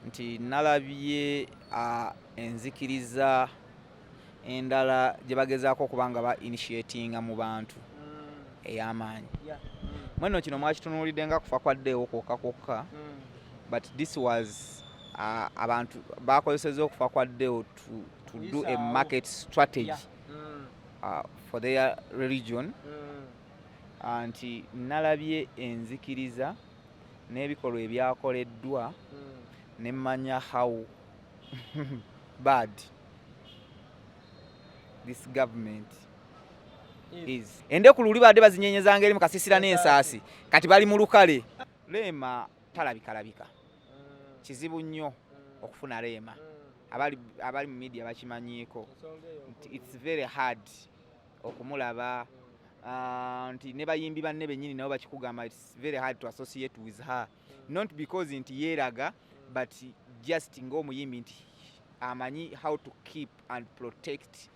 nti nalabye enzikiriza endala gye bagezaako okuba nga ba initiatinga mu bantu mm. ey'amaanyi mweno kino mwakitunuulidde nga kufa kwaddeewo kwokka kwokka mm. but this was abantu bakozeseza okufa kwaddeewo to do a market strategy mm. uh, for their religion nti nalabye enzikiriza mm. n'ebikolwa ebyakoleddwa hmm. ne manya how bad this government is endeku luli badde bazinyenyeza ngeri mu kasisira n'ensaasi kati bali mu lukale leema talabikalabika hmm. kizibu nnyo hmm. okufuna leema abali mu media bakimanyiiko it's very hard okumulaba uh, nti ne bayimbi banne bennyini nabo bakikugamba its very hard to associate with her not because nti yeeraga but just ng'omuyimbi nti amanyi how to keep and protect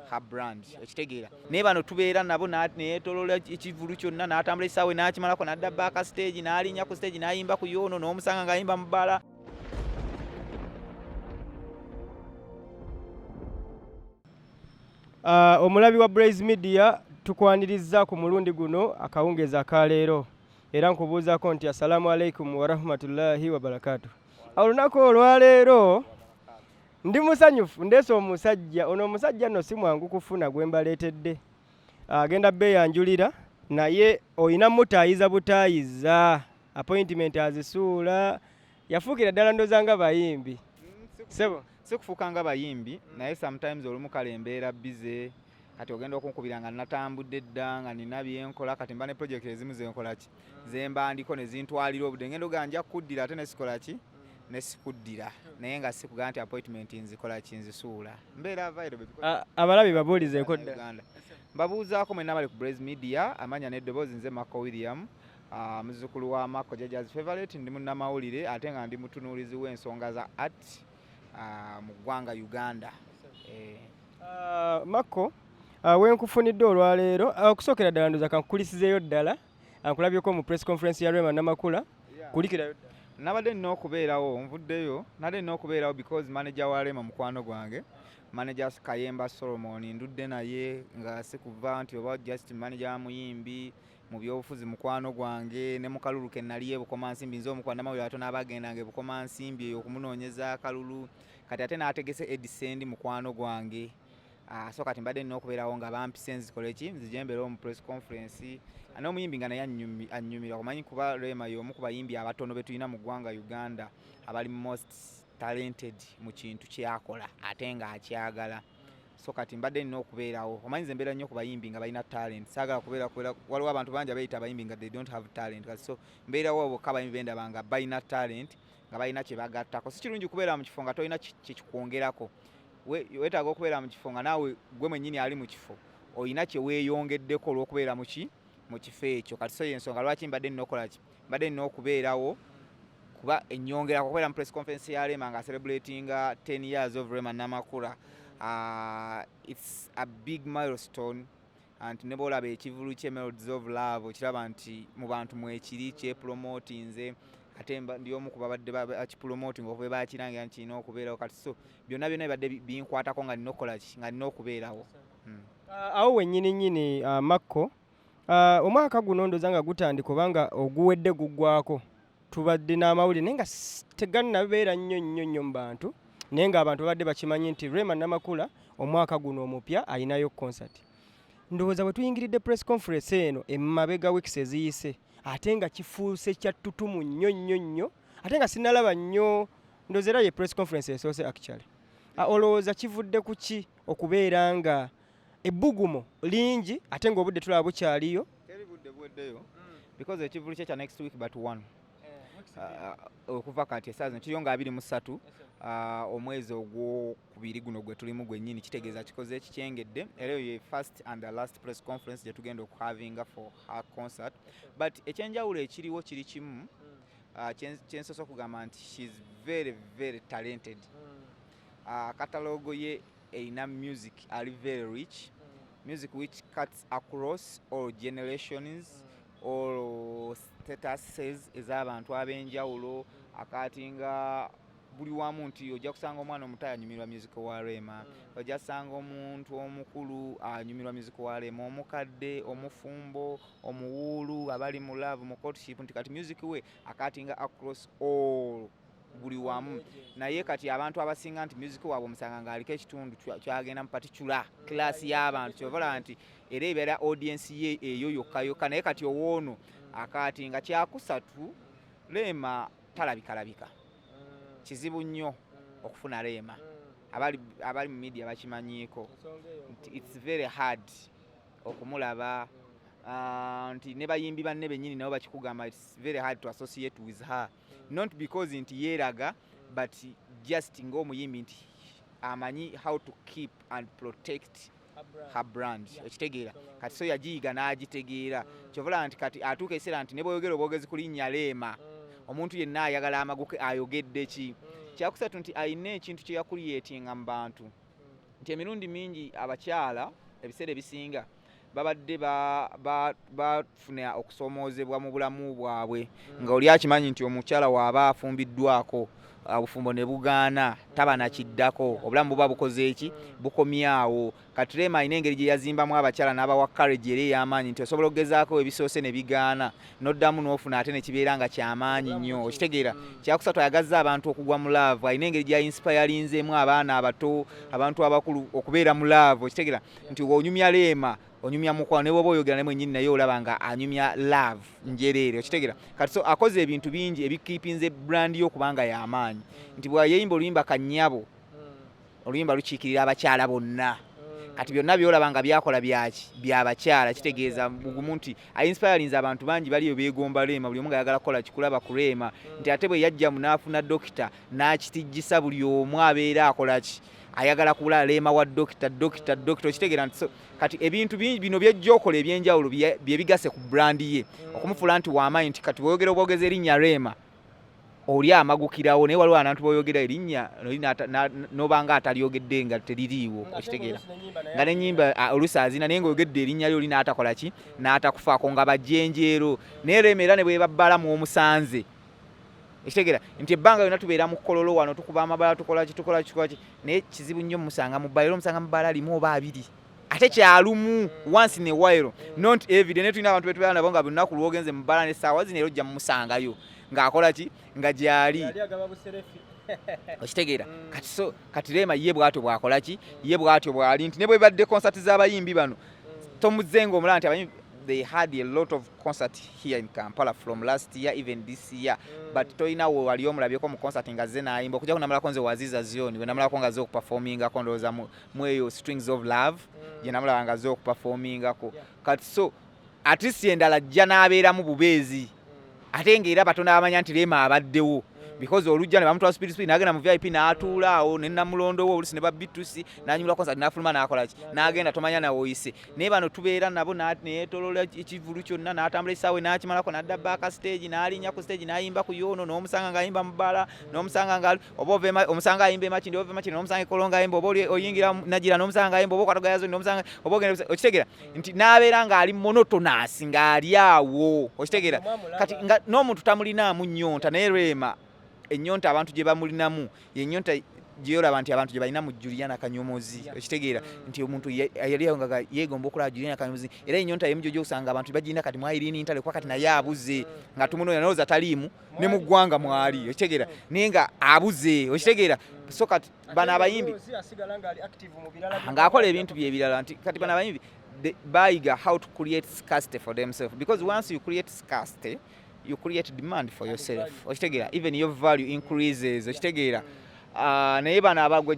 her brand okitegeera naye bano tubeera nabo neyetolola ekivulu kyonna n'atambula ekisaawe n'akimalako n'adda baaka stage n'alinnya ku stage n'ayimba ku yoono n'omusanga ng'ayimba mu bbala Uh, omulabi wa Blaze Media tukwanirizza ku mulundi guno akawungeezi aka leero era nkubuuzako nti assalamu alaikum warahmatullahi wabarakatu olunaku olwaleero ndi musanyufu ndeese omusajja ono omusajja nno si mwangu kufuna gwe mbaleetedde agenda beeyanjulira naye olina mutaayiza butaayiza appointment azisuula yafuukira ddala ndoza nga bayimbi mm, sebo sikufuuka nga bayimbi mm. naye sometimes olumu kale embeera bize kati ogenda okunkubira nga natambudde dda nga nina byenkola kati mba ne project ezimu zenkolaki mm. zemba ndiko nezintwalira obudde ngenda ogaa nja kukuddira ate nesikolaki nesikuddira naye nga sikugaa nti appointment nzikolaki nzisuula mbeera avairo abalabi babuulizeeko dda mbabuuzaako mwena bali ku braze media amanya neddoboozi nze mako william Ah, muzukulu wa Mako Jaja's favorite ndi munnamawulire ate nga ndi mutunuulizi w'ensonga za art ah, mu ggwanga Uganda. Eh. Ah, Mako wenkufunidde olwaleero okusookera ddala ndoza kankukulisizeeyo ddala ankulabyeko mu press conference ya Rema Namakula kulikirayo ddala. Nabadde nina okubeerawo nvuddeyo nabadde nina okubeerawo because manager wa Rema mukwano gwange manager Kayemba Solomon ndudde naye nga sikuva nti oba just manager wa muyimbi mu byobufuzi mukwano gwange ne mu kalulu ke nali e Bukomansimbi nze omu kwanamawulire atono abaagendanga e Bukomansimbi eyo okumunoonyeza akalulu kati ate n'ategese edisendi mukwano gwange ah, so kati mbadde nina okubeerawo nga bampise nzikole ki nzije mbeere omu press conference n'omuyimbi nga naye annyumira kumanyi kuba Rema y'omu ku bayimbi abatono be tulina mu ggwanga Uganda abali most talented mu kintu kyakola ate ng'akyagala so kati mbadde nina okubeerawo omanyi nze mbeera nnyo ku bayimbi nga balina talent saagala kubeera kubeera waliwo abantu bangi abayita abayimbi nga they don't have talent kati so mbeerawo bokka abayimbi bendaba nga balina talent nga balina kye bagattako si kirungi kubeera mu kifo nga tolina kyekikwongerako weetaaga okubeera mu kifo nga naawe gwe mwennyini ali mu kifo olina kye weeyongeddeko olw'okubeera muki mu kifo ekyo kati so yensonga lwaki mbadde nina okukola ki mbadde nina okubeerawo kuba enyongera kubeera mu press conference ya rema nga celebratinga 10 years of rema namakula uh, it's a big milestone anti ne bwolaba ekivulu kye melodies of love okiraba nti mu bantu mwekiri kyepromotinze ate ndi omu ku babadde bakipromotinga okuba bakirangira nti kirina okubeerawo kati so byonna byonna bibadde binkwatako nga nina okukola ki nga nina okubeerawo hmm. uh, awo wennyini nnyini uh, makko Ah, omwaka guno ndoza nga gutandika obanga oguwedde guggwako tubadde n'amawulire naye nga tegannabeera nnyo nnyo nnyo mu bantu naye ng'abantu babadde bakimanyi nti rema namakula omwaka guno omupya alinayo concert ndowooza bwe tuyingiridde press conference eno emabega weeks eziyise ate nga kifuuse kyattutumu nnyo nnyo nnyo ate nga sinalaba nnyo ndowooza era ye press conference esoose actually ah, olowooza kivudde ku ki okubeera nga ebbugumu lingi ate ng'obudde tulaba bukyaliyo teri budde buweddeyo mm. because ekivulu kye kya next week but one eh, uh, okuva kati esaawa zino kiriyo nga abiri mu ssatu uh, omwezi ogwokubiri guno gwe tulimu gwennyini kitegeeza mm. kikoze ekikyengedde era eyo ye first and the last press conference gye tugenda okuhavinga for her concert but ekyenjawulo ekiriwo kiri kimu mm. uh, kyensosa okugamba nti she's very very talented mm. akatalogo ye Erina music ali very rich music which cuts across all generations all statuses ez'abantu ab'enjawulo akaati nga buli wamu nti ojja kusanga omwana omuto anyumirwa music wa rema mm. ojja kusanga omuntu omukulu anyumirwa music wa rema omukadde omufumbo omuwuulu abali mu love mu courtship nti kati music we akaatinga across all buli wamu naye kati abantu abasinga nti music waabwe omusanga ng'aliko ekitundu kyagenda mu paticula kilasi y'abantu kyobalaba nti era ebeera audience ye eyo yokka yokka naye kati owoono akaati nga kyakusatu leema talabikalabika mm. kizibu nnyo mm. okufuna leema mm. abali mu media bakimanyiiko nti its very hard okumulaba ah, nti ne bayimbi banne bennyini nabo bakikugamba its very hard to associate with her not because nti yeeraga but just ng'omuyimbi nti amanyi how to keep and protect her brand okitegeera kati so yagiyiga n'agitegeera mm. kyovalaba nti kati atuuka ekiseera nti ne bwoyogera obwogezi ku linnya leema mm. omuntu yenna ayagala amaguke ayogedde ki mm. kyakusatu nti alina ekintu kye yakuliyetinga mu bantu nti emirundi mingi abakyala ebiseera ebisinga mm. babadde bafuna okusoomoozebwa mu bulamu bwabwe hmm. nga oli akimanyi nti omukyala waaba afumbiddwako obufumbo ne bugaana taba nakiddako obulamu buba bukoze eki bukomyawo katrema alina engeri gye yazimbamu abakyala n'abawa courage era ey'amaanyi nti osobola okugezaako ebisoose ne bigaana n'oddamu n'ofuna ate ne kibeera nga ky'amaanyi nnyo okitegeera hmm. kyakusatu ayagazza abantu okugwa mu laavu alina engeri gya insipayalinzeemu abaana abato abantu abakulu okubeera mu laavu okitegeera nti onyumya leema onyumya mukwano ne bwoba oyogera naye mwenyini naye olaba nga anyumya love njereere okitegera kati so akoze ebintu bingi ebikipinze brand yo kubanga yamaanyi nti bweyeyimba oluyimba kanyabo hmm. oluyimba lukiikirira abakyala bonna hmm. kati byonna byolaba nga byakola byaki byabakyala kitegeeza bugumu nti ainspirinze abantu bangi baliyo begomba reema buli omu nga ayagala kukola kikulaba ku reema hmm. nti ate bwe yajjamu n'afuna dokita n'akitijjisa buli omu abeera akolaki ayagala kubula leema wa dokita dokita dokita okitegera nti kati ebintu bino byejja okola ebyenjawulo byebigase ku brandi ye mm. okumufuula nti waamaanyi nti kati bwoyogera obwogeza erinnya reema oli amagukirawo naye waliwo abantu boyogera erinnya nobanga atalyogedde nga teririiwo okitegeera nga nenyimba olusi azina naye ngaoyogedde erinnya lyo oli n'atakola ki n'atakufaako nga bajenjeero naye reema era ne bwebabbalamu omusanze ekitegera nti ebbanga yona tubeera mu kololo wano tukuba amabala tukola kitukola kikolaki naye kizibu nnyo musanga mu bbala era omusanga mu bbala limu oba abiri ate kyalumu once in a while not every day netulina abantu betubeera nabo nga lunaku lwogenze mu bbala nesaawa zino era ojja mumusangayo ng'akola ki nga gyali okitegeera mm. kati so kati rema ye bwatyo bwakola ki ye bwatyo bwali nti ne bwebadde konsati z'abayimbi bano Tom Zengo omulaba nti abayiimbi they had a lot of concert here in Kampala from last year even this year mm. but toyina we wali omulabyeko mu concert nga ze nayimba okuja kunamalako nze waziza zioni we namalako nga ze okuperforminga ko ndoza mu mweyo strings of love mm. je namulaba nga ze okuperforminga ko yeah. kati so at least endala jja nabeera mu bubeezi ate nga era batono abamanya nti leema abaddewo because olujja ne bamutwala speed speed n'agenda mu vip n'atuula awo ne namulondo wo olusi ne babbitusi n'anyumula konsert n'afuluma n'akola ki n'agenda tomanya nawe oyise naye bano tubeera nabo neyetolola ekivulu kyonna n'atambula ekisaawe n'akimalako n'adda baaka stage n'alinnya ku stage n'ayimba ku yoono n'omusanga ng'ayimba mu bala n'omusanga nga oba ove omusanga ayimba emakindi oba ove emakindi nomusanga ekolonga ayimba oba oyingira nagira nomusanga ayimba oba okwata gayazo nomusanga oba ogenda okitegera nti nabeera ng'ali monotonous ng'ali awo okitegera kati nga n'omuntu tamulinaamu nyonta naye rema enyonta abantu gye bamulinamu yenyonta gyeyolaba nti abantu gyebalina mu juliana kanyomozi okitegeera nti omuntu yali awo nga yegomba okulaba juliana kanyomozi era enyonta yemu gyoja okusanga abantu bagirina kati mwayiriina intale kuba kati naye abuze nga tumunoonya nalowooza taliimu ne mu ggwanga mwali okitegeera naye nga abuze okitegeera so kati bano abayimbi ng'akola ebintu bye ebirala nti kati bano abayimbi bayiga how to create scarcity for themselves because once you create scarcity you create demand for yourself okitegeera even your value increases okitegeera Ah, naye bano abagwe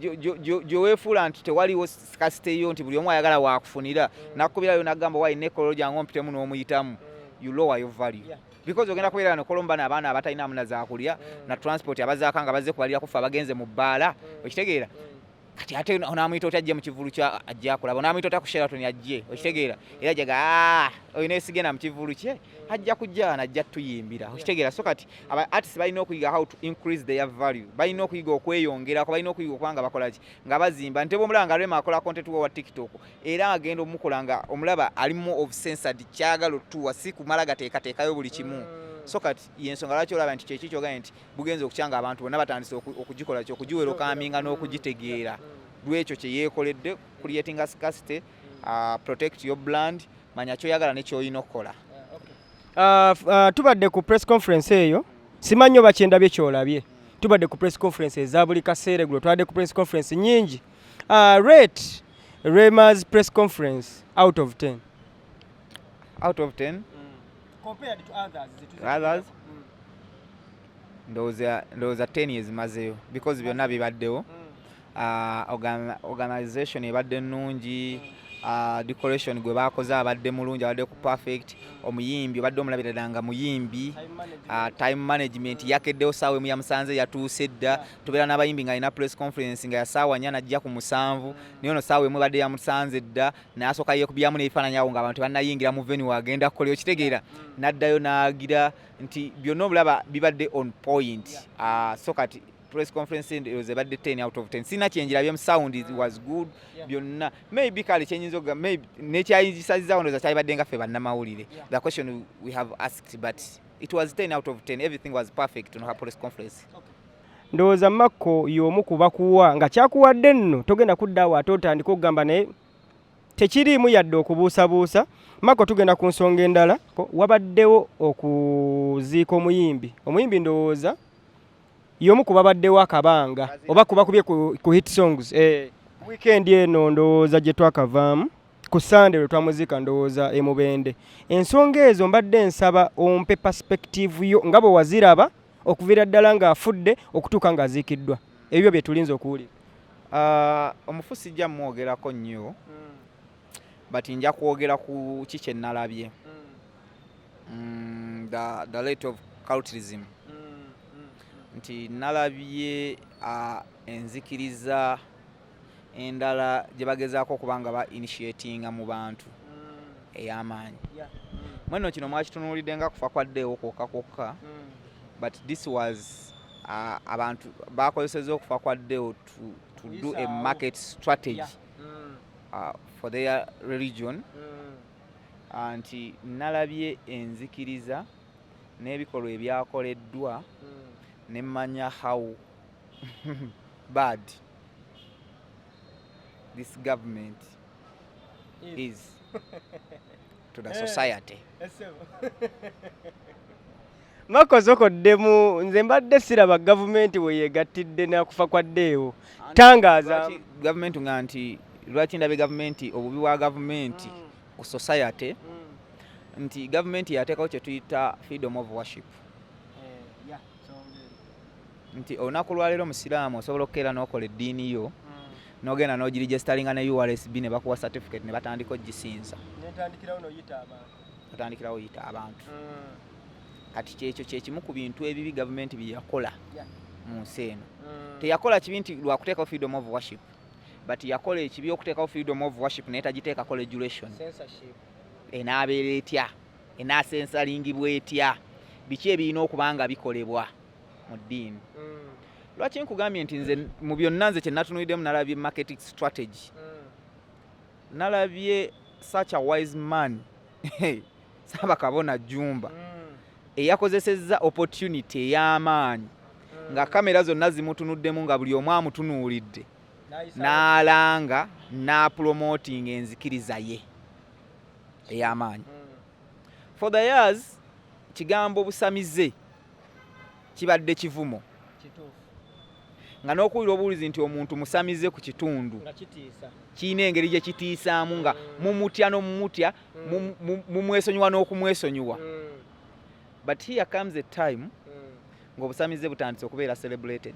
gyeweefuula nti tewaliwo kasite yo nti buli omu ayagala wakufunira nakubirayo nagamba wayi nekololo gyange ompitemu n'omuyitamu you lower your value because ogenda kubeera no kolombana abaana abatalina amuna zakulya mm. na transport abazaaka nga bazze kubalira kufa abagenze mu bbaala mm. okitegeera mm. kati ate onamuyita oti ajje mu kivulu kya ajja akulaba onamuyita ota ku sheraton ajje okitegeera era jaga ah, olina esigenda mu kivulu kye ajja kujja najja tuyimbira okitegeera so kati aba artist balina okuyiga how to increase their value balina okuyiga okweyongerako balina okuyiga okubanga bakolaki nga bazimba nte bwomulaba nga rema akola content wa tiktok era agenda omukola nga omulaba alimu obsensad kyagala otuwa si kumala gateekateekayo buli kimu mm. so kati yensonga lwaki olaba nti kyekyo kyogambye nti bugenza okukyanga abantu bonna batandise okugikola ki okugiwera okaminga n'okugitegeera mm. lwekyo kye yeekoledde creating scarcity uh, protect your brand manya kyoyagala nekyoyina okukola uh, uh, tubadde ku press conference eyo simanyi oba kyendabye kyolabye tubadde ku press conference eza buli kaseera egulo twabadde ku press conference nyingi Uh, rate Rema's press conference out of 10. Out of 10? Mm. Compared to others. To others? Mm. Those are, those are 10 years mazeyo because we are not bad though. Mm. Uh, organ, organization ebadde nnungi mm. uh, decoration gwe bakoze abadde mulungi abadde ku perfect mm. omuyimbi obadde omulabirira nga muyimbi time management, uh, time management yakeddewo saawa emu yamusanze yatuuse dda tubeera n'abayimbi nga alina press conference nga yasaawa nya najja ku musanvu naye ono saawa emu badde yamusanze dda nasooka yekubyamu n'ebifaananyi awo nga abantu banayingira mu venu agenda kukola okitegeera naddayo n'agira nti byonna obulaba bibadde on point ah, so kati press conference eroze badde 10 out of 10 sina kyenjirabye mu sound it was good byonna maybe kale kyenyinza okuga maybe nekyayingisazizawo ndoza kyalibadde nga ffe bannamawulire the question we have asked but it was 10 out of 10 everything was perfect on her press conference okay. Ndowooza Makko y'omu ku bakuwa nga kyakuwadde nno togenda kudda awo ate otandika okugamba naye tekiriimu yadde okubuusabuusa. Makko tugenda ku nsonga endala. Wabaddewo okuziika omuyimbi. Omuyimbi ndowooza y'omu ku babaddewo akabanga oba kubakubye ku hit songs. Eh. Wikendi eno ndowooza gye twakavaamu ku sande lwe twamuziika ndowooza e Mubende. Ensonga ezo mbadde nsaba ompe perspective yo nga bwe waziraba. okuviira ddala ng'afudde okutuuka ng'aziikiddwa ebyo bye tulinza okuwulira ah, omufu sijja mumwogerako nnyo hmm. but nja kwogera ku ki kye nnalabye hmm. mm, the late of culturism hmm, nti nalabye ah, enzikiriza endala gye bagezaako okuba nga ba initiatinga mu bantu mm. ey'amaanyi mm. mweno kino mwakitunuulidde nga kufa kwaddeewo kwokka kwokka mm. but this was uh, abantu bakozeseza okufa kwaddeewo to, to do a market strategy yeah. mm. uh, for their religion mm. uh, nti nalabye enzikiriza n'ebikolwa ebyakoleddwa mm. nemmanya how bad this government is, is to the eh, society eh, makozoko ddemu nze mbadde siraba gavumenti weyegattidde nakufa kwa ddeewo tangaaza gavumenti nga nti lwaki ndabe gavumenti obubi bwa gavumenti mm. ku society mm. nti gavumenti yateekawo kyetuyita freedom of worship eh, nti olunaku lwaleero omusiraamu osobola okukeera n'okola eddiini yo hmm. nogenda nogirijesitalinga ne ursb ne bakuwa certificate ne batandika ogisinza otandikirawo yita abantu hmm. kati kyekyo kyekimu ku bintu ebibi gavumenti byeyakola mu nsi eno hmm. teyakola kibi nti lwakuteekawo freedom of worship but yakola ekibi okuteekawo freedom of worship naye tagiteekako regulation enaabeera etya enaasensalingibwa etya biki ebirina okuba nga bikolebwa mu ddiini mm. lwaki nkugambye nti nze mu byonna nze kyenatunuliddemu nalabye marketing strategy mm. nalabye such a wise man saaba kabona jumba mm. eyakozesezza opportunity ey'amaanyi nga kamera zonna zimutunuddemu nga buli omu amutunuulidde n'alanga n'apulomotinga enzikiriza ye ey'amaanyi for the years kigambo busamize kibadde kivumo nga n'okuwulira obuwulizi nti omuntu musamize ku kitundu kirina engeri gye kitiisaamu nga mm. mumutya n'omumutya mm. mumwesonyiwa n'okumwesonyiwa mm. but here comes a time ng'obusamize butandise okubeera celebrated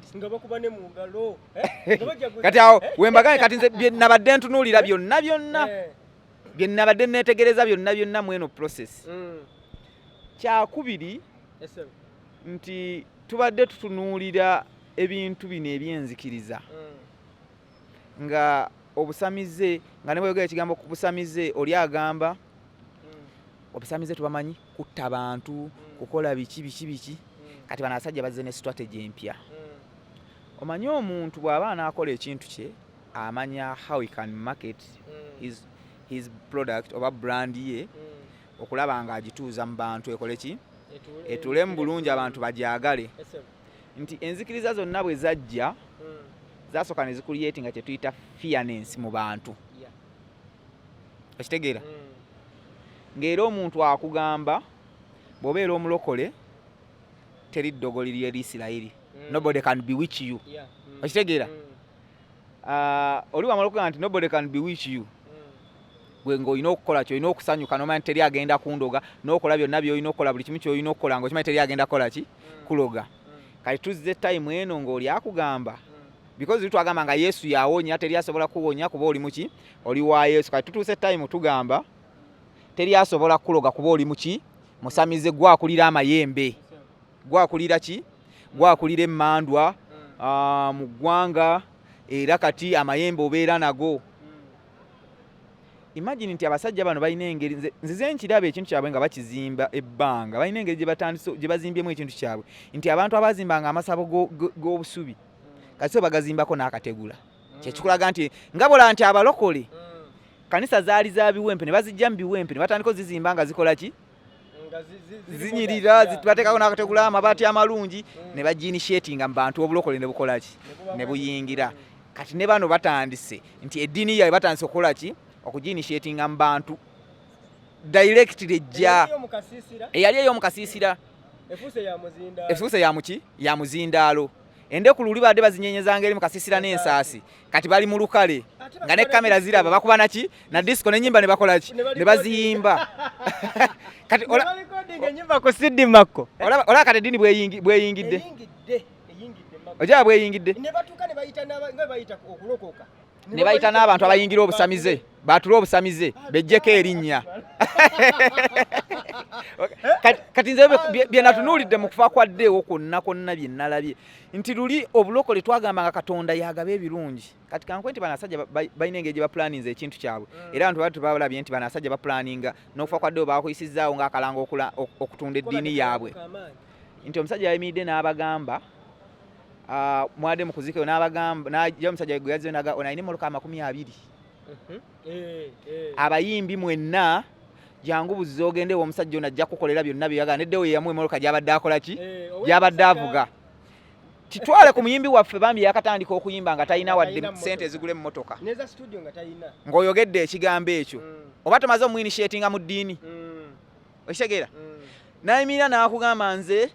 eh? kati awo eh? wembagane kati nze nabadde ntunuulira byonna byonna eh. bye nnabadde nneetegereza byonna byonna mu eno process mm. kyakubiri nti tubadde tutunuulira ebintu bino ebyenzikiriza mm. nga obusamize nga ne bweyogera ekigambo ku busamize oli agamba mm. obusamize tubamanyi kutta bantu mm. kukola biki biki biki mm. kati bano abasajja bazze ne strategy empya mm. omanyi omuntu bw'aba anaakola ekintu kye amanya how he can market mm. his, his product oba brand ye mm. okulaba nga agituuza mu bantu ekole ki etule mu bulungi abantu bagyagale nti enzikiriza zonna bwe zajja mm. zasooka ne zikuliyeti nga kyetuyita fianensi mu bantu okitegeera ng'era omuntu akugamba bw'obeera omulokole teri ddogoli lyeri isirayiri nobody can bewitch you okitegeera Ah, oli wamala okugamba nti nobody can bewitch you gwe ng'olina okukola kyolina okusanyuka nomanya nti teri agenda kundoga n'okola byonna byolina okukola buli kimu kyolina okukola nga okimanyi teri agenda kukola ki mm. kuloga mm. kati tuzze time eno ng'oli akugamba mm. because twagamba nga yesu yawonya teri asobola kuwonya kuba oli muki oli wa yesu kati tutuuse time tugamba teri asobola kuloga kuba oli muki musamize gwakulira amayembe gwakulira ki gwakulira emmandwa ah, mu ggwanga era kati amayembe obeera nago imagine nti abasajja bano balina engeri nzize nkiraba ekintu kyabwe nga bakizimba ebbanga balina engeri gye bazimbyemu ekintu kyabwe nti abantu abazimbanga amasabo g'obusubi kasi bagazimbako n'akategula kyekikulaga nti nga bola nti abalokole mm. kanisa zaali za biwempe ne bazijja mu biwempe ne batandika ozizimba nga zikola ki zinyirira bateekako nakategula amabaati amalungi ne bagiinishetinga mu bantu obulokole ne bukola ki ne buyingira kati ne bano batandise nti eddiini yaabwe batandise okukola ki okugiinishetinga mu bantu directly ejja eyali ey'omukasiisira efuuse ya muki ya muzindaalo Endeku luli baadde bazinyenyezanga eri mu kasisira n'ensaasi kati bali mu lukale nga ne kamera ziraba bakuba naki na disco n'ennyimba ne bakola ki ne baziyimba kati olaba kati eddiini bweyingidde ojaba bweyingidde ne bayita n'abantu abayingira obusamize baatula obusamize bejjeko erinnya kati nze byenatunuulidde mu kufa kwa ddeewo kwonna kwonna bye nnalabye nti luli obulokole twagamba nga katonda yagaba ebirungi kati kankwe nti banasajja balina engeri gye bapulaninza ekintu kyabwe mm. era abantu batu babalabye nti banasajja bapulaninga n'okufa kwa ddeewo baakuyisizaawo ng'akalanga okutunda eddiini yaabwe nti omusajja yayimiridde n'abagamba Ah, mwade mukuzika yo nabagamba najja omusajja gwe yazze naga ona ine muluka amakumi abiri mhm. eh, eh. abayimbi mwenna jangu buzze ogende omusajja ono ajja kukolera byonna byeyagala neddewo yeyamu emoloka gyabadde akola ki eh, gyabadde avuga kitwale ku muyimbi waffe bambi yakatandika okuyimba nga talina wadde sente ezigula emmotoka ng'oyogedde ekigambo ekyo mm. oba tomaze omuinishetinga mu ddiini mm. okitegeera mm. nayimirira nakugamba nze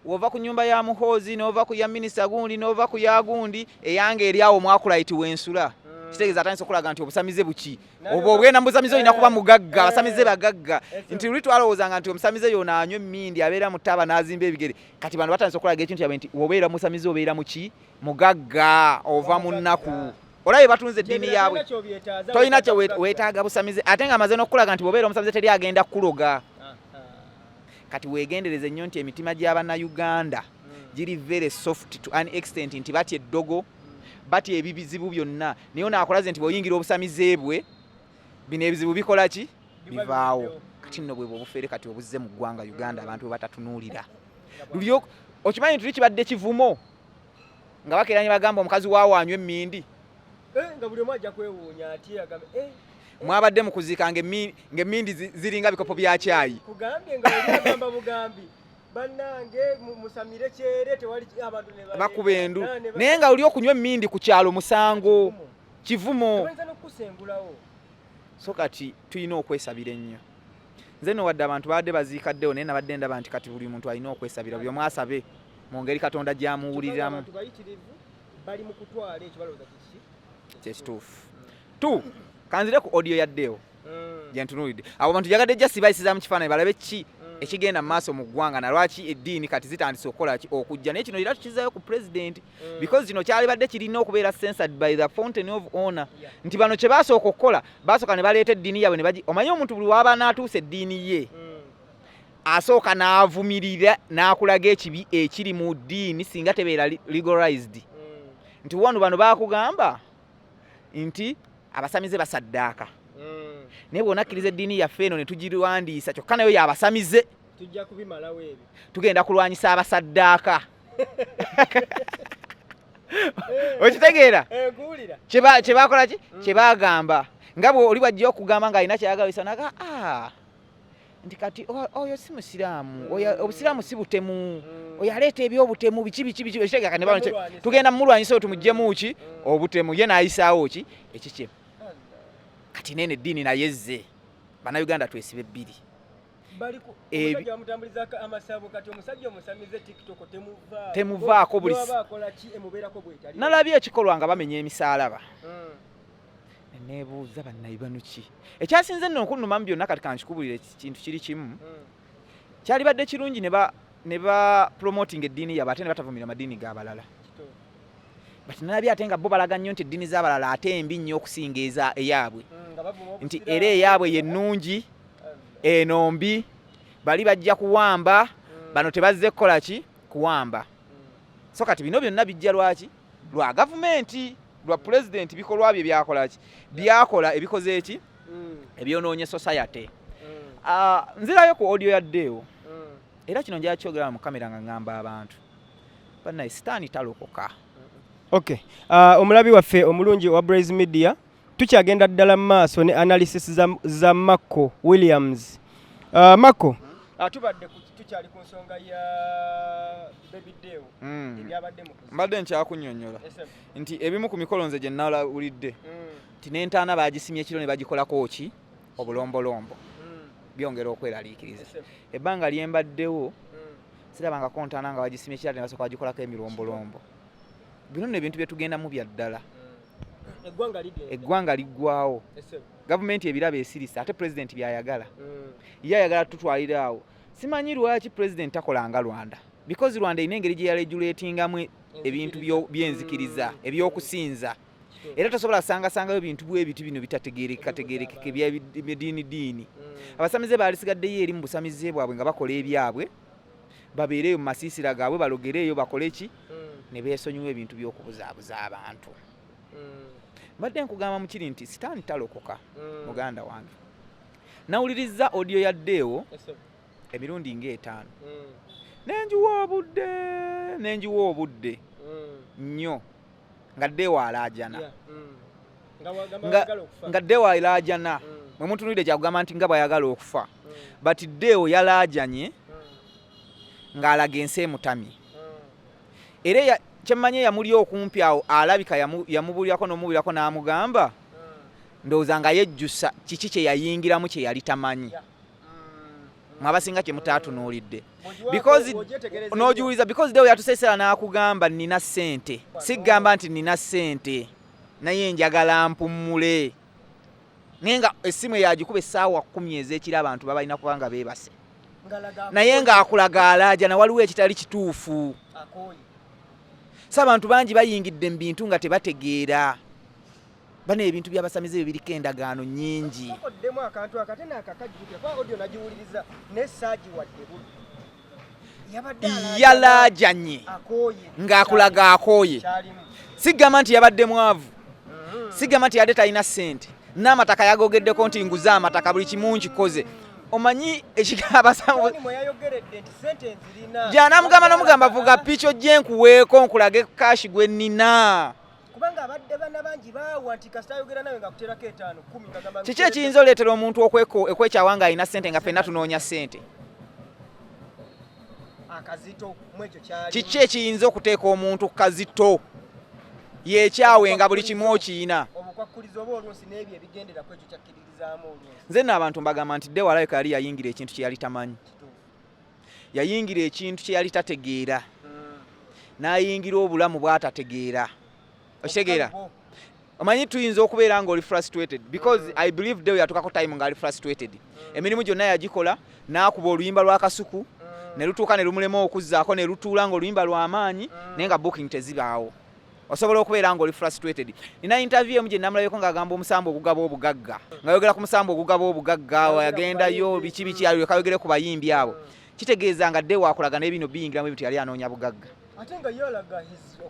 wova ku nyumba ya muhoozi nova ku ya minisita gundi nova ku ya gundi eyange eri awo mwakulaiti wensula mm. kitegeeza atandisa okulaga nti obusamize buki obwo obwenda mubusamize olina kuba eh. mugagga eh. abasamize bagagga eh, nti luli twalowoozanga nti omusamize yona anywa emmindi abeera mu taaba n'azimba ebigere kati bantu batandisa okulaga ekintu kyabwe nti obeera musamize obeera muki mugagga ova mu nnaku olabye batunze eddiini yaabwe tolina kye weetaaga busamize ate nga amaze n'okukulaga nti bwobeera omusamize teri agenda kukuloga kati weegendereze nnyo nti emitima gy'abannayuganda hmm. giri very soft to an extent nti batya eddogo batya ebizibu byonna naye onaakolaze nti bweoyingira obusamize bwe bino ebizibu bikola ki bivaawo kati nno bwebwe obufere kati obuzze mu ggwanga uganda abantu bwe batatunuulira okimanyi nti tuli kibadde kivumo nga bakeera ne bagamba omukazi waawo anywa emmindi eh, nga buli omu ajja kwewuunya ati agamba eh, eh. mwabadde mu kuziika ng'emmindi ziringa bikopo bya kyayi kugambye nga agamba bugambi bannange musamire kyere tewali abantu bakuba endu naye nga oli okunywa emmindi ku kyalo musango kivumo so kati tulina okwesabira ennyo nze no wadde abantu baadde baziika ddeo naye nabadde ndaba nti kati buli muntu alina okwesabira buli omu asabe mu ngeri katonda gyamuwuliramu kyekituufu t kanzire ku audio yaddeo mm. gyentunulidde abo bantu jagadde ja sibayisiza mu kifaananyi balabe ki mm. ekigenda mu maaso mu ggwanga nalwaki eddiini kati zitandise okukola ki okujja naye kino era tukizayo ku pulezidenti mm. because kino kyalibadde kirina okubeera censored by the fountain of honor nti bano kye basooka okukola basooka ne baleeta eddiini yabwe ne omanyi omuntu buli waba n'atuusa eddiini ye mm. asooka n'avumirira n'akulaga ekibi ekiri mu ddiini singa tebeera legalized mm. nti wano bano bakugamba nti abasamize basaddaaka mm. naye bwona akkiriza eddiini yaffe eno ne tugirwandiisa kyokka nayo yabasamize tugenda kulwanyisa abasaddaaka okitegeera eh, kyebakola ki mm. kyebagamba nga oli bwajja okugamba nga alina kyeyagabisa naga ah, nti kati oyo si musiraamu mm. obusiraamu si butemu mm. oyo aleeta ebyobutemu biki biki biki ekitegeka nebano tugenda mumulwanyisa oyo tumugjemu ki obutemu ye nayisaawo ki ekikye kati nene eddiini naye zze banauganda twesiba ebbiri temuvaako buli nalabye ekikolwa nga bamenya emisaalaba hmm. nebuuza bannaibanuki ekyasinze nno okunuma mu byonna kati kankikubulira ekintu kiri kimu hmm. kyalibadde kirungi ne ba promoting eddiini yabwe ate ne batavumira amadiini g'abalala but nalabye ate nga bo balaga nnyo nti eddiini z'abalala ate embi nnyo okusinga eza eyaabwe hmm, nti era eyaabwe yennungi eno mbi bali bajja kuwamba mm. bano tebazze kukola ki kuwamba mm. so kati bino byonna bijja lwaki lwa gavumenti lwa mm. pulezidenti bikolwa bye byakola ki byakola ebikoze eki ebyonoonye society ah, nzirayo ku audio yaddeewo era kino njala kyogera mu kamera nga ngamba abantu banaye sitaani talokoka okay ah, omulabi waffe omulungi owa braise media Tukyagenda ddala mu maaso ne analysis za, za Marco Williams. Uh, Marco uh, tubadde tukyali ku nsonga ya Baby Deo mm. ebyabadde mu mbadde nkyakunyonyola nti ebimu ku mikolo nze gye nnalawulidde mm. nti n'entaana baagisimye ekiro ne bagikolako ki obulombolombo mm. byongera okweraliikiriza ebbanga lyembaddewo mm. sirabangako ntaana nga bagisimye ekirala ne basooka bagikolako emirombolombo bino nno ebintu bye tugendamu bya ddala mm. eggwanga liggwawo gavumenti ebiraba esirise ate pulezidenti byayagala mm. ye ayagala tutwalira awo simanyi lwaki pulezidenti takolanga rwanda because rwanda erina engeri gye yaleguletingamu ebintu byenzikiriza mm. ebyokusinza era tosobola sangasangayo bintu bwebiti bino bitategerekekategerekeka ebyediini diini mm. abasamize baalisigaddeyo eri mu busamize bwabwe nga bakola ebyabwe babeereeyo mu masiisira gaabwe balogereeyo bakole ki hmm. ne beesonyiwa ebintu by'okubuzaabuza abantu hmm. mbadde nkugamba mu kiri nti sitaani talokoka hmm. muganda wange nawulirizza odiyo yaddeewo emirundi ng'etaano nenjiwa obudde nenjiwa obudde nnyo nga dewo alaajana nga dewo alaajana mwe mutunulidde kyakugamba nti nga bwayagala okufa but dewo yalaajanye ng'alaga ensi emutamye era kyemmanyi eyamuli okumpi awo alabika yamubuulirako n'omubuulirako n'amugamba ndowooza nga yejjusa kiki kye yayingiramu kye yali tamanyi mwabasinga kyemutatunuulidde nogiwuliza because dewo yatusesera n'akugamba nina ssente sigamba nti nina ssente naye njagala mpummule naye nga essimu eyagikuba essaawa kumi ez'ekiro abantu babalina kuba nga beebase naye ng'akulaga alaaja na waliwo ekitali kituufu si abantu bangi bayingidde mu bintu nga tebategeera bano ebintu byabasamize byo biriko endagaano nyingi oddemu akantu akate nakakajjukira kuba odio nagiwuliriza naye saagiwadde bubi yalajanye ng'akulaga akooye sigamba nti yabadde mwavu mm-hmm. sigamba nti yadde talina ssente n'amataka yagogeddeko nti nguze amataka buli kimu nkikoze omanyi ekigabasajanaamugamba nomugamba vuga pico gyenkuweeko nkulage kashi gwe nina kubanga abadde bana bangi baawa nti kasita ayogera nawe nga kuterako etaano kumi ngagamba kiki ekiyinza oleetera omuntu okwekyawa nga alina sente nga fenna tunoonya sente akazito mwekyo kyali kiki ekiyinza okuteeka omuntu kukazito yekyawe nga buli kimu okiyina obukwakkulizo oba oluusi n'ebyo ebigendera ku ekyo kyakkiririzaamu oluusi nze nno abantu mbagamba nti dewalabika yali yayingira ekintu kye yali tamanyi yayingira ekintu kye yali tategeera n'ayingira obulamu bw'atategeera okitegeera omanyi tuyinza okubeera nga oli frustrated because mm. i believe dewe yatukako time nga ali frustrated mm. emirimu gyonna yagikola n'akuba oluyimba lwa kasuku mm. ne lutuuka ne lumulema okuzzaako ne lutuula nga oluyimba lw'amaanyi naye nga booking tezibaawo osobola okubeera nga oli frustrated nina interview emu gye namulabeko ng'agamba omusambu ogugaba obugagga nga yogera ku musambu ogugaba obugagga yagendayo biki biki alyoka yogere ku bayimbi abo kitegeeza nga dde wakulaga naye bino biyingiramu ebintu yali anoonya bugagga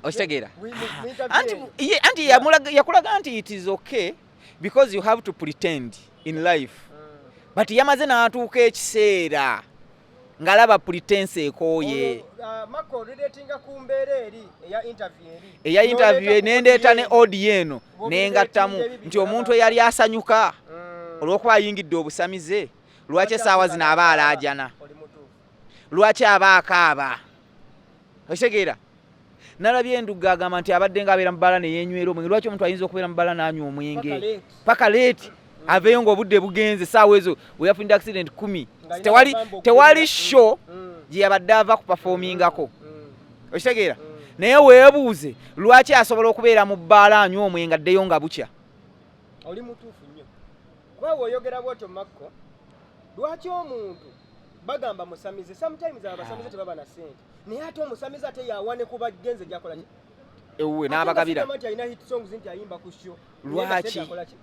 okitegeera anti yakulaga nti it is okay because you have to pretend in life mm. but yamaze n'atuuka ekiseera ngalaba pretense ekooye eya interview nendeeta ne audio eno nengattamu nti omuntu eyali asanyuka mm. olwokuba ayingidde obusamize lwaki esaawa zino aba alaajana lwaki aba akaaba okitegeera nalabye enduga agamba nti abadde nga abeera mubala neyenywera omwenge lwaki omuntu ayinza okubeera mubala nanywa omwenge paka leeti aveyo nga obudde bugenze saawa ezo weyafunide accident kumi tewali tewali show mm. gyeyabadde ava ku pafomingako mm. mm. okitegeera naye webuuze lwaki asobola okubeera mu bbaala anywa omwenge addeyo nga bukya oli mutuufu nnyo kuba weoyogera bwotyo makko lwaki omuntu bagamba musamize sometimes abasamize tebaba na sente naye ate omusamize ate yawane ku bagenze gyakola ki ewuwe n'abagabira lwaki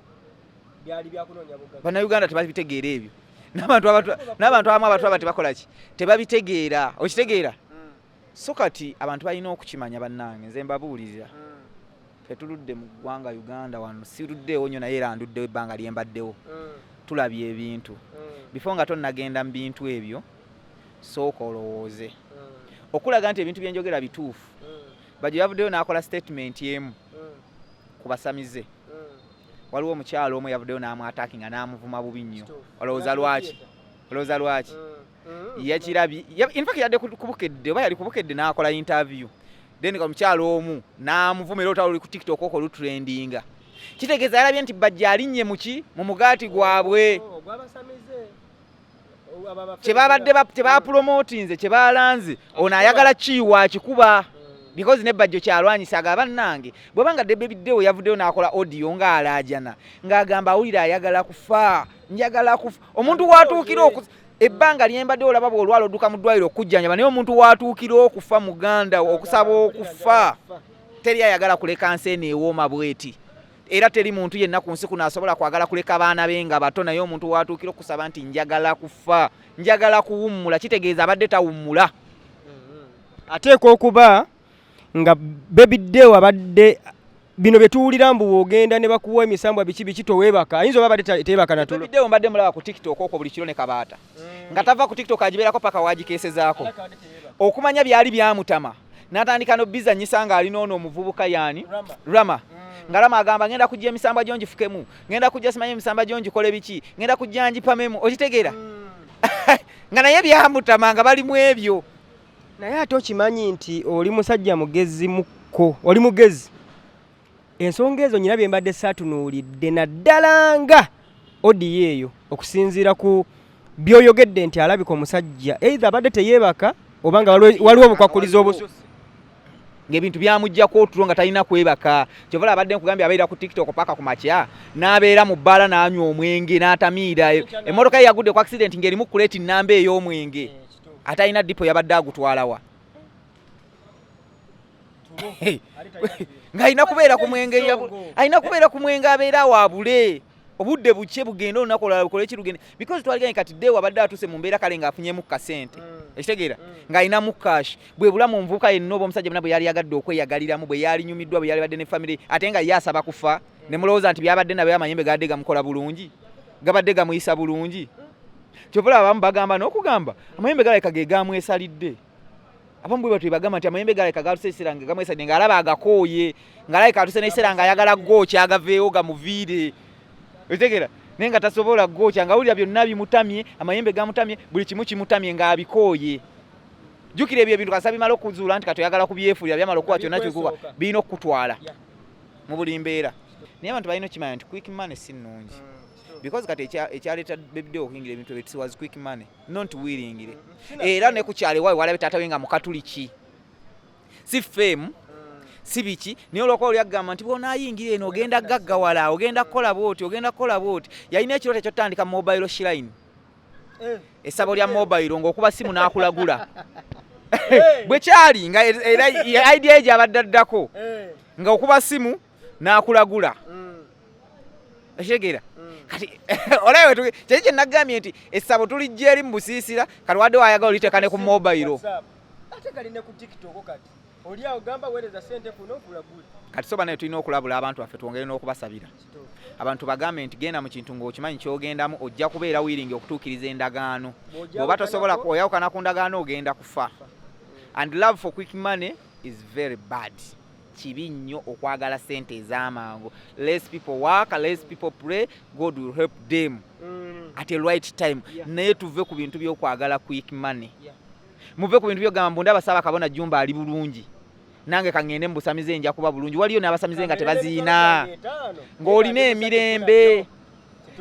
bannayuganda tebabitegeera ebyo n'abantu abamu abantu aba tebakola ki tebabitegeera okitegeera hmm. so kati abantu balina okukimanya bannange nze mbabuulirira hmm. Tetuludde mu ggwanga Uganda wano, siruddeewo nnyo naye era nduddewo ebbanga lye mbaddewo. Mm. Tulabye ebintu mm. bifo nga tonnagenda mu bintu ebyo, sooka olowooze mm. okulaga nti ebintu bye njogera bituufu. Bajo yavuddeyo n'akola sitatimenti emu ku basamize. Waliwo omukyalo omu yavuddeyo n'amwataakinga n'amuvuma bubi nnyo. Olowooza lwaki? Olowooza lwaki? mm. yakirabye infact yadde kubukedde oba yali kubukedde n'akola interview then omukyalo omu n'amuvuma era olutalo luli ku tiktok oko lutrendinga kitegeeza yalabye nti bajja alinnye muki mu mugaati gwabwe oh, kyebabadde tebapulomotinze kyebalanze ono ayagala kiiwa akikuba because ne bajjo kyalwanyisa aga bannange bweba nga debe biddewo yavuddeyo n'akola audio ng'alaajana ng'agamba awulira ayagala kufa njagala kufa omuntu watuukira ebbanga lyembadde olaba bwolwala oduka mu ddwaliro okujjanjaba naye omuntu watuukira okufa muganda okusaba okufa teri ayagala kuleka nsi eno ewooma bweti era teri muntu yenna ku nsi kuno asobola kwagala kuleka baana be nga bato naye omuntu watuukira okusaba nti njagala kufa njagala kuwummula kitegeeza abadde tawummula mm-hmm. ateekwa okuba nga baby deo abadde bino bye tuwulira mbu ogenda ne bakuwa emisambwa biki biki towebaka ayinza oba abadde teyebaka na tulo bideo mbadde mulaba ku tiktok okwo buli kiro ne kabaata mm. nga tava ku tiktok agibeerako paka wagikeesezaako okumanya byali byamutama natandika no bizanyisa nga alina ono omuvubuka yani rama, rama. Mm. nga lama agamba ngenda kujja emisambwa gyo ngifukemu ngenda kujja simanyi emisambwa gyo ngikole biki ngenda kujja ngipamemu okitegeera hmm. nga naye byamutamanga bali mu ebyo naye ate okimanyi nti oli musajja mugezi mukko oli mugezi ensonga ezo nyina byembadde saatunuulidde naddala nga odiyo eyo okusinziira ku byoyogedde nti alabika omusajja eitha abadde teyeebaka oba nga waliwo obukwakuliza obususi ngebintu byamujjako otulo nga talina kwebaka kyovala abadde nkugambye abeera ku tiktok paka ku makya n'abeera mu bbaala n'anywa omwenge n'atamiira emmotoka ye yagudde ku accident ng'erimu kuleeti nnamba ey'omwenge ate alina dipo yabadde agutwalawa ng'alina kubeera ku mwenge alina kubeera ku mwenge abeera waabule obudde bukye bugenda olunaku olala lukole kirugende because twaliganye kati de wabadde atuuse mu mbeera kale ng'afunyemu kasente mm. ekitegeera mm. ng'alinamu cash bwe bulamu nvuuka yenna oba omusajja muna bwe yali yagadde okweyagaliramu bwe yali nyumiddwa bwe yali badde ne famire ate nga ye asaba kufa ne mulowooza nti byabadde nabyo amayembe gabadde gamukola bulungi gabadde gamuyisa bulungi mm. kyova laba abamu bagamba n'okugamba amayembe galabika ge gaamwesalidde abamu bwe batwe bagamba nti amayembe galabika gaaluse ekiseera nga gamwesalidde ng'alaba agakooye ng'alabika atuse n'ekiseera nga ayagala gooki agaveewo gamuviire otegera naye nga tasobola gookya nga wulira byonna bimutamye amayembe gamutamye buli kimu kimutamye ng'abikooye jjukira ebyo ebintu kasa bimala okuzuula nti kati oyagala kubyefuulira byamala okuba kyonna kikuba birina okukutwala mu buli mbeera naye abantu balina okukimanya nti quick money si nnungi mm. because kati ekyaleeta bebideo okuyingira ebintu ebyo tiwas quick money not willingire era ne ku kyalo ewawe walabe taata we nga mukatuliki si fame si biki naye olwokuba oli agamba nti bwonaayingira eno ogenda gaggawala ogenda kukola bwoti ogenda kukola bwoti yalina ekirooto ekyotandika mobile shirine eh. esabo lya mobile ngaokuba simu n'akulagula eh. bwe kyali nga era idea egyo abadde addako eh. nga okuba simu n'akulagula mm. okitegeera mm. kati olaba kyeki kyenagambye nti essabo tulijja eri mu busiisira kati wadde wayagala oliteeka ne ku mobayiro kati soba naye tulina okulabula abantu baffe twongere n'okubasabira abantu bagambe nti genda mu kintu ng'okimanyi kyogendamu ojja kubeera wiringi okutuukiriza endagaano bwoba tosobola oyawukana ku ndagaano ogenda kufa and love for quick money is very bad kibi nnyo okwagala sente ez'amangu less people work less people pray god will help them mm. at a right time yeah. naye tuve ku bintu by'okwagala quick money yeah. muve ku bintu byogamba mbu ndaba saaba kabona jumba ali bulungi nange kaŋŋende mbusamize nja kuba bulungi waliyo n'abasamize nga tebaziina ng'olina emirembe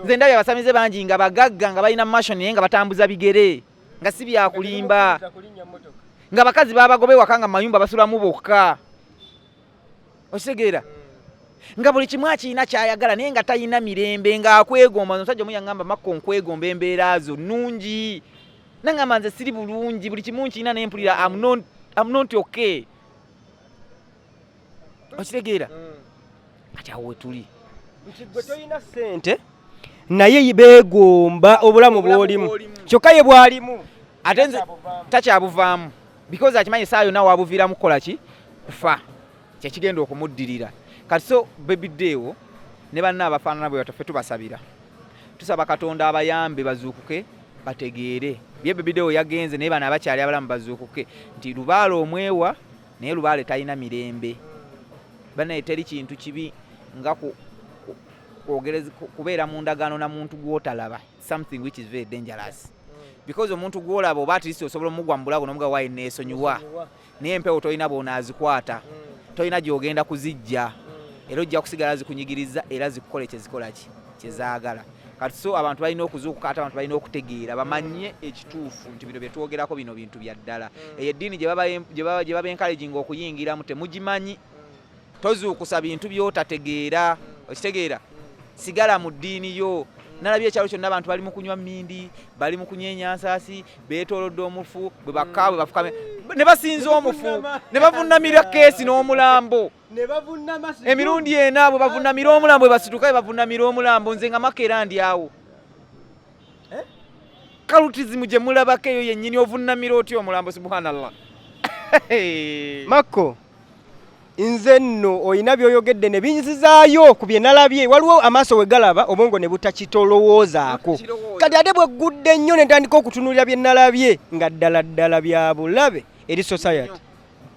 nze ndabye abasamize bangi nga bagagga nga balina mashoni naye nga batambuza bigere nga si byakulimba nga bakazi babagoba ewaka nga mayumba basulamu bokka okitegeera hmm. nga buli kimu akirina kyayagala naye nga talina mirembe ngaakwegomba omusajja omu yaŋamba makko nkwegomba embeera zo nungi naŋamba nze siri bulungi buli kimu nkirina naye mpulira amnonti okay okitegeera mm. kati awo wetuli nti gwe tolina sente naye beegomba obulamu bwolimu kyokka ye bwalimu ate nze takyabuvaamu because akimanyi saa yonna wabuviiramu kukola ki kufa kyekigenda okumuddirira kati so bebiddeewo ne banna abafaanana bwe bataffe tubasabira tusaba katonda abayambe bazuukuke bategeere bye bebiddeewo yagenze naye bano abakyali abalamu bazuukuke nti lubaala omwewa naye lubaale talina mirembe banaye teri kintu kibi nga kubeera mu ndagaano na muntu gwotalaba something which is very dangerous mm. because omuntu gwolaba oba atlist osobola omugwa mu bulago nomuga wayi neesonyiwa naye empewo tolina bwonaazikwata mm. tolina gyogenda kuzijja mm. era ojja kusigala zikunyigiriza era zikukola kyezikola ki kyezaagala kati so abantu balina okuzuukuka ate abantu balina okutegeera bamanye ekituufu nti bino byetwogerako bino bintu bya ddala mm. eyo eddiini gye baba enkalejinga okuyingiramu temugimanyi mm. tozuukusa bintu byotategeera mm. okitegeera sigala mu ddiini yo nalabye ekyalo kyonna abantu bali mu kunywa mindi bali mu kunywa enyansasi beetolodde omufu bwe bakka bwe bafukame ne basinza omufu ne bavunamira keesi n'omulambo emirundi ena bwe bavunamira omulambo bwebasituka bwe bavunamira omulambo nze nga maka era ndi awo eh? kalutizimu gye mulabako eyo yennyini ovunamira otya omulambo subhanallah makko nze nno olina byoyogedde ne binzizaayo ku bye nalabye waliwo amaaso we galaba obwongo ne butakitolowoozaako kati ate bwe ggudde nnyo ne ntandika okutunuulira bye nalabye nga ddala ddala bya bulabe eri society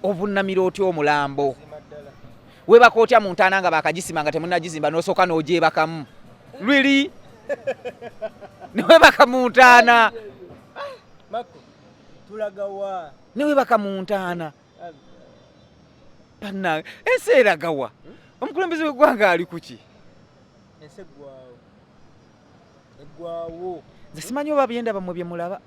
ovunnamira otya omulambo webaka otya mu ntaana nga bakagisima nga temunagizimba nosooka n'ogyebakamu lwiri newebaka mu ntaana newebaka mu ntaana banange ensi eragawa omukulembeze w'eggwanga ali kuki eggwawo nze simanyi oba byendaba mwe bye mulaba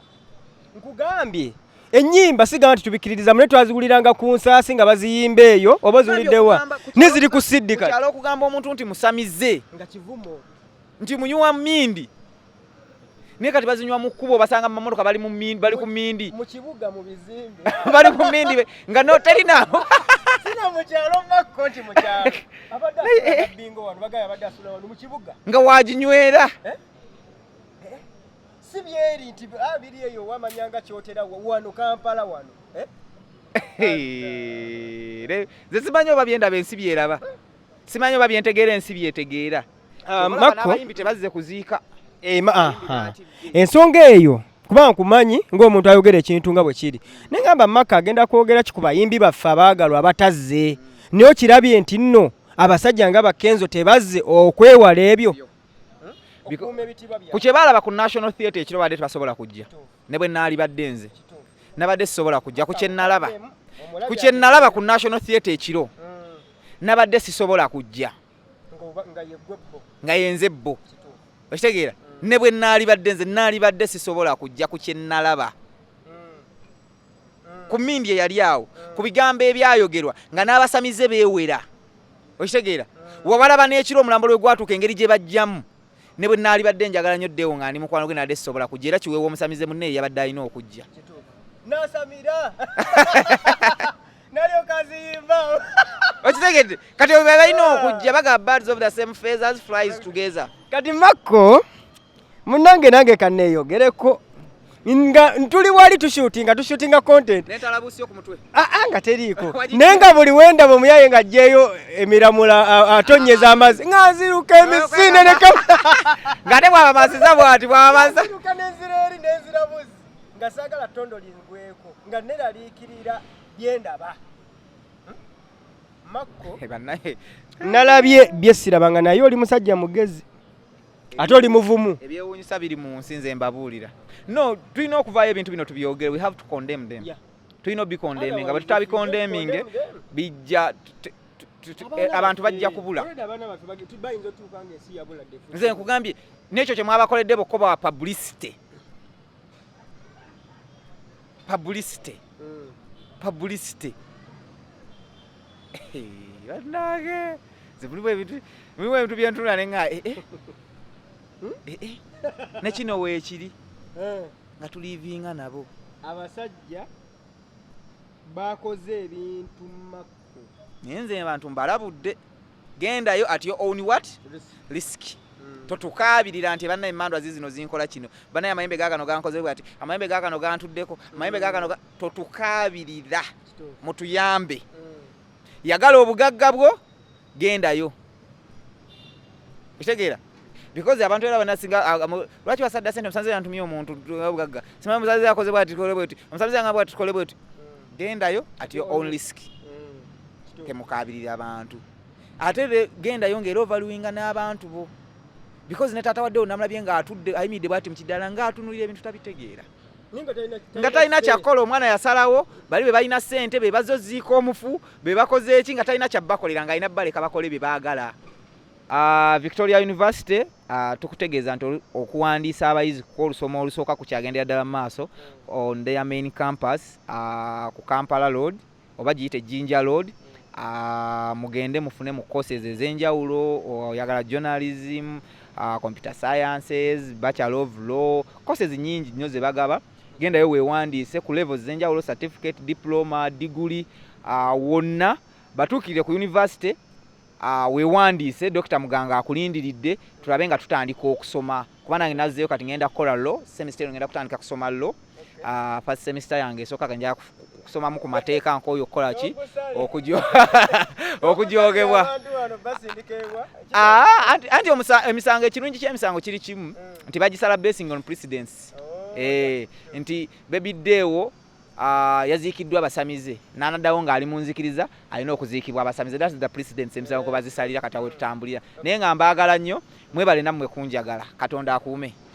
nkugambye ennyimba sigamba nti tubikkiririza mune twaziwuliranga ku nsaasi nga baziyimba eyo oba oziwuliddewa neziri ku siddika kyalo okugamba omuntu nti musamize nga kivumo nti munyuwa mindi naye kati bazinywa mu kkubo basanga mu mamotoka bali bali ku mindi mu kibuga mu bizimbe bali ku mindi nga no teri naabo sina mu kyalo makko nti mu kyalo eh, eh. nga waginywera eh? si byeri nti ah, biri eyo wamanya nga kyotera wano kampala wano ze simanyi oba byendaba ensi byeraba simanyi oba byentegeera ensi byetegeera Ah, abayimbi tebazze kuziika eh, ensonga eyo kuba nkumanyi ng'omuntu ayogera ekintu nga bwe kiri naye ngamba maka agenda kwogera ki ku bayimbi baffe abaagalwa abatazze naye okirabye nti nno abasajja nga bakenzo tebazze okwewala ebyo ku kye baalaba ku national theatre ekiro badde tebasobola kujja ne bwe naali badde nze nabadde sisobola kujja ku kyenalaba ku kyenalaba ku national theatre ekiro mm. nabadde sisobola kujja nga yenze bbo okitegeera ne bwe naalibadde nze naalibadde sisobola kujja ku kye nnalaba ku mindi eyali awo ku bigambo ebyayogerwa nga n'abasamize beewera okitegeera wabalaba n'ekiro omulambo lwe gwatuuka engeri gye bajjamu ne bwe naalibadde njagala nnyo ddewo nga ndi mukwano gwe naadde sisobola kujja era kiweewa omusamize munne eyabadde alina okujja nasamira okitegedde kati obe balina okujja baga birds of the same feathers flies together kati makko munange nange kaneeyogereko nga tuli wali tushutinga tushutinga content ah, ah, nga teriiko naye nga buli wendaba omuyaye nga ajjeeyo emiramula atonyeza amazzi nga nziruka emisinde nekam nga ate bwabamaziza bwati bwabamaziza nga saagala ttondo lingweko nga neraliikirira bye ndaba hmm? makko eh, nalabye bye siraba nga naye oli musajja mugezi ate oli muvumu ebyewuunyisa biri mu nsi nze mbabuulira no tulina okuvaayo ebintu bino tubyogere we have to condemn them yeah. tulina obikondeming nga bwe tutabikondeminge bijja Eh, abantu bajja eh, kubula nze nkugambye nekyo kyemwabakoledde bokoba wa publicity publicity hmm. publicity banange nze mulimu ebintu mulimu ebintu byentunula ne nga ee ee nekino weekiri eh. nga tulivinga nabo abasajja bakoze ebintu naye nze abantu mbalabudde gendayo at your own what risk hmm. totukaabirira nti banaye emandwa zizino zinkola kino banaye amayembe gakano gankoze bwati amayembe gakano gantuddeko amayembe gakano totukaabirira mutuyambe hmm. yagala obugagga bwo gendayo ekitegeera because abantu era banasinga ah, ah, lwaki basadda sente omusanze yantumye omuntu obugagga simanyi omusanze yakoze bwati tukole bweti omusanze yanga bwati tukole bweti gendayo at your own risk mm, temukabirira abantu ate gendayo ngaera ovaluinga n'abantu bo because ne taata waddewo namulabye ng'atudde ayimiridde bwati mukiddala ng'atunulira ebintu tabitegeera nga talina kyakukola omwana yasalawo bali be balina sente be bazoziika omufu be bakoze eki nga talina kyabakolera ng'alina baleka bakole bye baagala Uh, Victoria University uh, tukutegeeza nti okuwandiisa abayizi kuko olusoma olusooka ku kyagendera ddala mu maaso on their main campus uh, ku Kampala Road oba giyite Jinja Road uh, mugende mufune mu courses ez'enjawulo oyagala uh, journalism uh, computer sciences bachelor of law courses nyingi nnyo zebagaba gendayo wewandiise ku levels ez'enjawulo certificate diploma diguli uh, wonna batuukirire ku university Wewandiise Dokita Muganga akulindiridde tulabe nga tutandika okusoma kuba nange nazzeyo kati ngenda kukola law semester eno ngenda kutandika kusoma law ah, first semester yange esooka nja kusomamu ku mateeka nkooyo okukola ki okujoogebwa ah, anti emisango ekirungi ky'emisango kiri kimu nti bagisala basing on precedence oh, eh, nti bebiddeewo yaziikiddwa abasamize n'anaddawo ng'ali mu nzikiriza alina okuziikibwa abasamize that's the precedence emisango kwe bazisalira kata wetutambulira naye nga mbaagala nnyo mwebale nammwe kunjagala katonda akuume